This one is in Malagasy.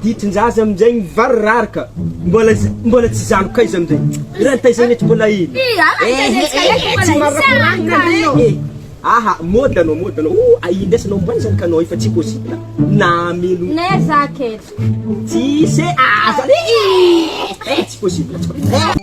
Ditin-jaza amin'izay mivarirary ka! Mbola mbola tsy zanoka aiza amin'izay? Raha ny taizay mety mbola ela. Ehe, tsy marakorana anao e! Aha, mody anao, mody anao. O, a indesy anao ambany izany ka anao efa tsy possible. Na hamelo. Neh za aketo. Tsisy e! Aza le e! Eh, tsy possible, tsy possible.